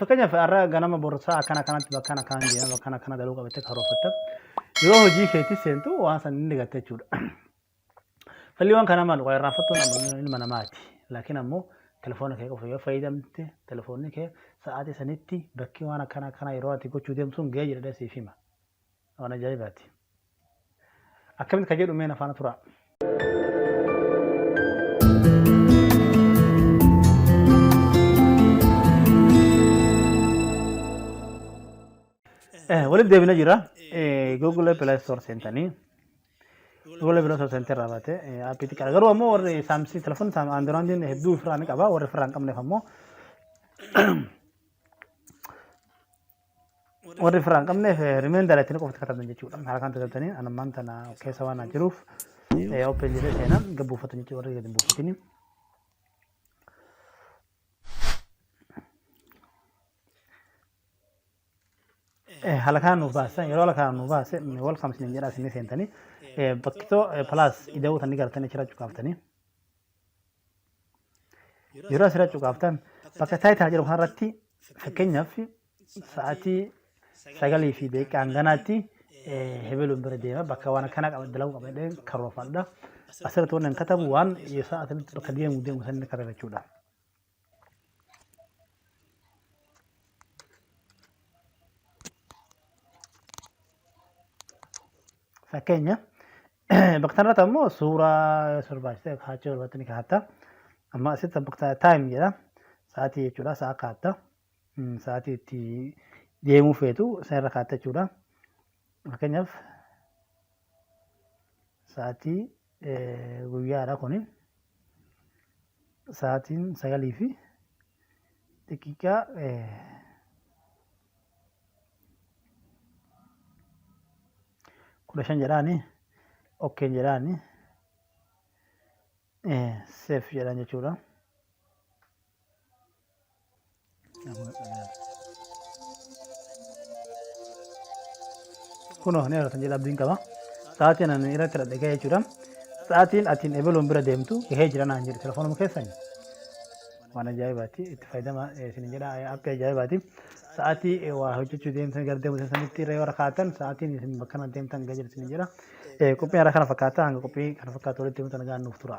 Fakkeenyaaf har'a ganama borsaa akkana kanatti bakkaan akkaan deema bakkaan akkana galuu qabattee karoorfatta. Yeroo hojii keetti seentu waan san inni gatta jechuudha. Falli waan kanaa maal irraa fattuun amma ilma namaati. Laakiin ammoo telefoona kee qofa yoo fayyadamte telefoonni kee sa'aatii sanitti bakki waan akkana akkana yeroo ati gochuu deemtu sun ga'ee jira siif hima. Waan ajaa'ibaati. Akkamitti ka jedhu mee na faana turaa. Eh, walitti deebina jira. Eh, Google Play Store seentanii. Google Play Store seentee irraa baate eh, appii xiqqaadha. Garuu ammoo warri saamsii telefoonni saam Androidin hedduu ofirraa ni qaba. Warri ofirraa hin qabneef ammoo warri firaan qabneef rimeendara ittiin qofti katabdan jechuudha. Haala kan tajaajiltanii anammaan tana keessa waan naan jiruuf open jedhee seenaa gabbuufattan jechuudha warri gadi buufatini. Haala kanaan nuuf baasa yeroo haala kanaan nuuf baase welcome isin jedhaa isin seentanii bakkitoo plus ida'uu tan ni gartanii achirraa cuqaaftanii. Yeroo asirra cuqaaftan bakka taayitaa jedhu kanarratti fakkeenyaaf sa'aatii sagalii fi daqiiqaa hanganaatti hebeluun bira deema bakka waan akkanaa qaba dalaguu qaba jedhee karoorfadha. Asirratti waan hin katabu waan sa'aatii bakka deemu deemu sanni katabachuudha. Fakkeenya bakka kanarratti ammoo suuraa barbaachisa kaachuu irratti ni kaatta. Amma asitti bakka taayim jedha. Sa'aatii jechuudha. Sa'a kaatta. Sa'aatii itti deemuu feetu sanarra kaatta jechuudha. Fakkeenyaaf sa'aatii guyyaadha kuni. sa'aatiin 9 fi daqiiqaa kudha shan jedhaani okkeen jedhaani seef jedhan jechuudha. kunoo ni argatan jedha abdiin qaba sa'aatiin ani irratti hidhadhe gahee jechuudha sa'aatiin atiin ebeluun bira deemtu gahee jira naan jedhe telefoonuma keessan waan ajaa'ibaati itti fayyadama isin jedha appii ajaa'ibaati sa'aatii waa hojjechuu deemtan gara deemu sanitti irra yoo rakkaatan sa'aatiin isin bakka na deemtan gahee jira isin jedha qophiin irra kana fakkaata hanga qophii kana fakkaatu walitti deemtan nagaan nuuf tura.